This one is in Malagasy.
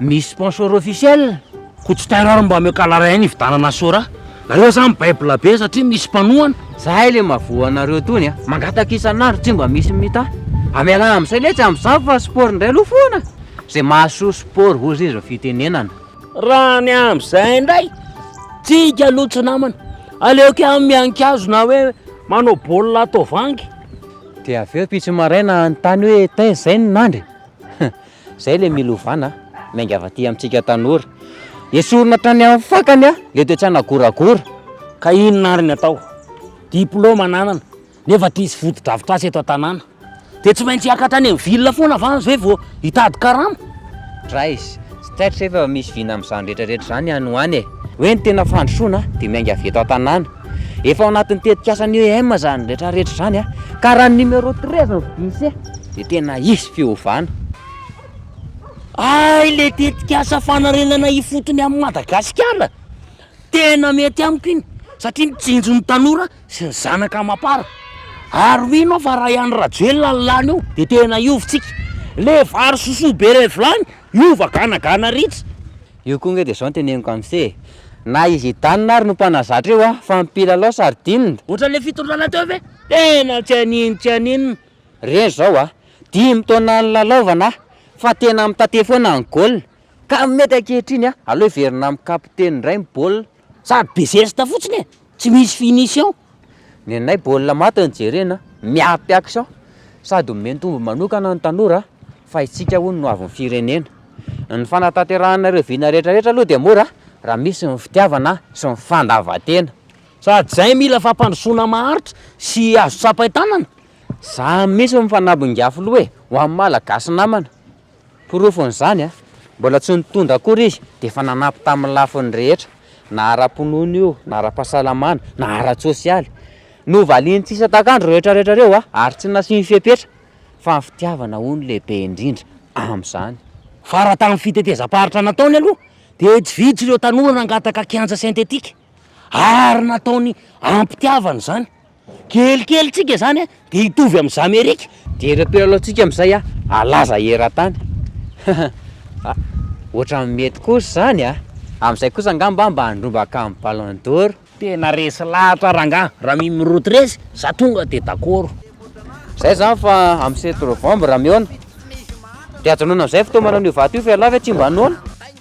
Misy sponsor officiel? Ko tsy terror mba omeo calarain hividanana sora. Nareo zany mibaibla be satria misy mpanohana. Zahay le mavoa anareo tony a. Mangataka isan'andro tsy mba misy mita. Amelà amzay letsy amzao fa sport ndray aloha foana. Zay mahasoa sport hozy izy ro fitenenana. Raha ny amzay ndray tsika aloha tsy namana. Aleoko ihany miankazo na hoe manao baolina ato vangy. De aveo pitsy maraina hanontany hoe taiza zay ny nandry? Zay le milovana a! Miainga avy aty amintsika tanora. Esorina hatrany amin'ny fakany a! Le toetrana goragora. Ka inona ary ny atao? Diplôme ananana nefa tsy misy fotodrafitrasa eto an-tanàna. Dia tsy maintsy hiakatra any amin'ny ville foana va ve vao hitady karama? Drais, tsy taitra ve fa misy vina amin'izany rehetra rehetra izany any ho any e! Hoe ny tena fandrosoana dia miainga avy eto an-tanàna. Efa ao anatin'ny tetikasan'ny EM izany retraretra izany a. Ka raha ny numéro treize no vidian'ise dia tena hisy fiovana. Hay le tetikasa fanarenana ifotony amin'i Madagasikara, tena mety amiko iny satria mitsinjo ny tanora sy ny zanaka amam-para. Ary mino aho fa raha i Andry Rajoelina no lany eo dia tena hiova isika. Le vary sosoa be iray vilany hiova ganagana ritsy. Io koa nge de zao no teneniko am se e! Na i Zidane ary no mpanazatra io an! Fa ny mpilalao sardine! Ohatran'ilay fitondrana teo ve? Tena tsy haninona tsy haninona. Reny zao a! Dimy taona nilalaovana a! Fa tena mitate foana ny goal! Ka mety ankehitriny a! Aleo hiverina amin'ny kapiteny indray ny baolina! Sady be zesta fotsiny e! Tsy misy finition ny anay baolina maty no jerena miampy action sady omeny tombony manokana ny tanora fa itsika hono no avon'ny firenena. Ny fanatanterahanay ireo vina rehetra rehetra aloha dia mora raha misy ny fitiavana sy ny fandavan-tena. Sady zay mila fampandrosoana maharitra sy azo tsapain-tanana. Za mihitsy no mifanambinga filoha e, ho an'ny Malagasy namana. Porofon'izany, mbola tsy nitondra akory izy, dia efa nanampy tamin'ny lafiny rehetra, na ara-pinoana io, na ara-pahasalamana, na ara-tsosialy. Novaliany tsy isan-takandro ireo rehetrarehetra ireo, ary tsy nasiany fepetra, fa ny fitiavana, hono, lehibe indrindra amin'izany. Fara tamin'ny fitetezam-paritra nataony aloha, dia tsy vitsy ireo tanora nangataka kianja sentetika, ary nataony am-pitiavana izany. Kelikelitsiaka zany a de hitovy am zamerika. Dia ireo mpilalao tsika amizay a halaza eratany ah otrany mety kosa zany a amizay kosa angamba mba handrombaka am ballon d'or. Tena resy lahatra rangah raha mimroty resy za tonga de dakoro. Zay zany fa am sept novembre mihaona de ajanona amizay fotoa manao an'io vato io fa ialahy ve tsy mba noana.